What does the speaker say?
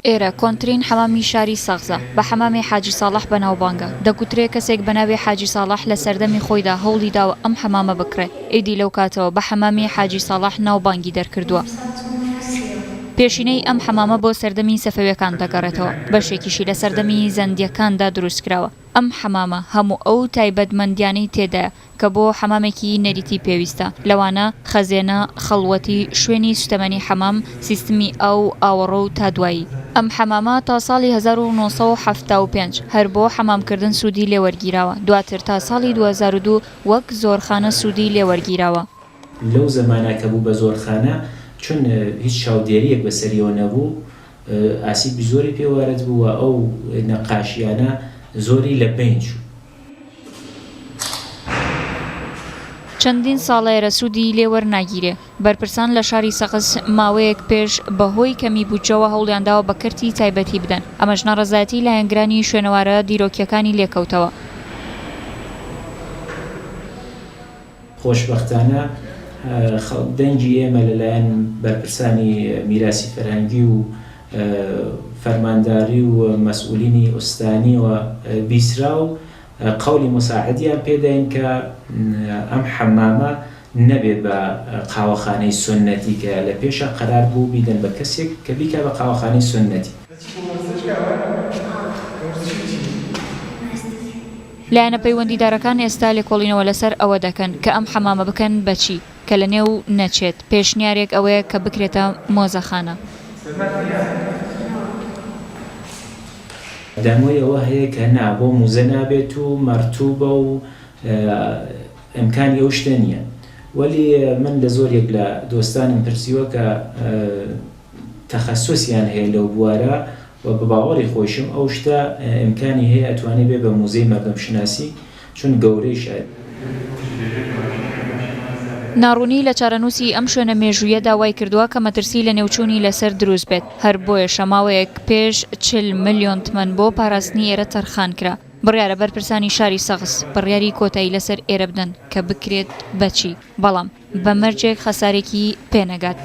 ئێرە کۆنترین حەمامی شاری سەغزە، بە حەمامێ حاجی ساڵح بەناوبانگە، دەگوترێ کەسێک بەناوێ حاجی ساڵح لە سەردەمی خۆیدا هەوڵی داوە ئەم حەمامە بکڕێ، ئیدی لەو کاتەوە بە حەمامی حاجی ساڵح ناوبانگی دەرکردووە. پێشینەی ئەم حەمامە بۆ سەردەمی سەفەویەکان دەگەڕێتەوە، بەشێکیشی لە سەردەمی زەندیەکاندا دروستکراوە، ئەم حەمامە هەموو ئەو تایبەتمەندیانەی تێدایە، کە بۆ حەمامێکی نەریتی پێویستە، لەوانە، خەزێنە، خەڵوەتی، شوێنی سوتەمەنی حەمام، سیستمی ئاو، ئاوەڕۆ و تا دوایی. ئەم حەمامە تا ساڵی هەزار و نۆ سەد و حەفتا و پێنج هەر بۆ حەمامکردن سوودی لێ وەرگیراوە، دواتر تا ساڵی دوو هەزار و دوو وەک زۆرخانە سوودی لێ وەرگیراوە. لەو زەمانە کە بوو بە زۆرخانە، چون هیچ چاودێرییەک بەسەریەوە نەبوو، ئاسیبی زۆری پێ وارد بوو و ئەو نەقاشییانە زۆری لە بەین چوو. چەندین ساڵەیەرە سوودی لێ وەرناگیرێ. بەرپرسان لە شاری سەقز ماوەیەک پێش بە هۆی کەمی بودجەوە هەوڵیان داوە بە کەرتی تایبەتی بدەن، ئەمەش ناڕەزایەتی لایەنگرانی شوێنەوارە دیرۆکییەکانی لێ کەوتەوە. خۆشبەختانە دەنگی ئێمە لەلایەن بەرپرسانی میراسی فەرهەنگی و فەرمانداری و مەسئولینی ئوستانیەوە بیسرا و قەولی موساعدیان پێداین کە ئەم حەمامە نەبێ بە قاوەخانەی سوننەتی کە لە پێشا قەرار بوو بیدەن بە کەسێک کە بیکا بە قاوەخانەی سوننەتی. لایەنە پەیوەندیدارەکان ئێستا لێکۆڵینەوە لەسەر ئەوە دەکەن کە ئەم حەمامە بکەن بە چی کە لە نێو نەچێت، پێشنیارێک ئەوەیە کە بکرێتە مۆزەخانە. دەمۆی ئەوە هەیە کە نا بۆ موزە نابێت و مەرتوبە و ئەمکانی ئەو شتە نیە وەلی من لە زۆر یەک لە دۆستانم پرسیوە کە تەخەسوس یان هەیە لەو بوارە و بە باوەڕی خۆیشم ئەو شتە ئیمکانی هەیە ئەتوانێ بێ بە موزەی مەردەم شوناسی چون گەورەی شایستەی. ناڕوونی لە چارەنووسی ئەم شوێنە مێژوویەدا وای کردووە کە مەترسی لەنێوچوونی لەسەر دروست بێت، هەر بۆیەشە ماوەیەک پێش چل ملیۆن تمەن بۆ پاراستنی ئێرە تەرخان کرا. بڕیارە بەرپرسانی شاری سەغز بڕیاری کۆتایی لەسەر ئێرە بدەن کە بکرێت بە چی، بەڵام. بە مەرجێک خەسارێکی پێ نەگات.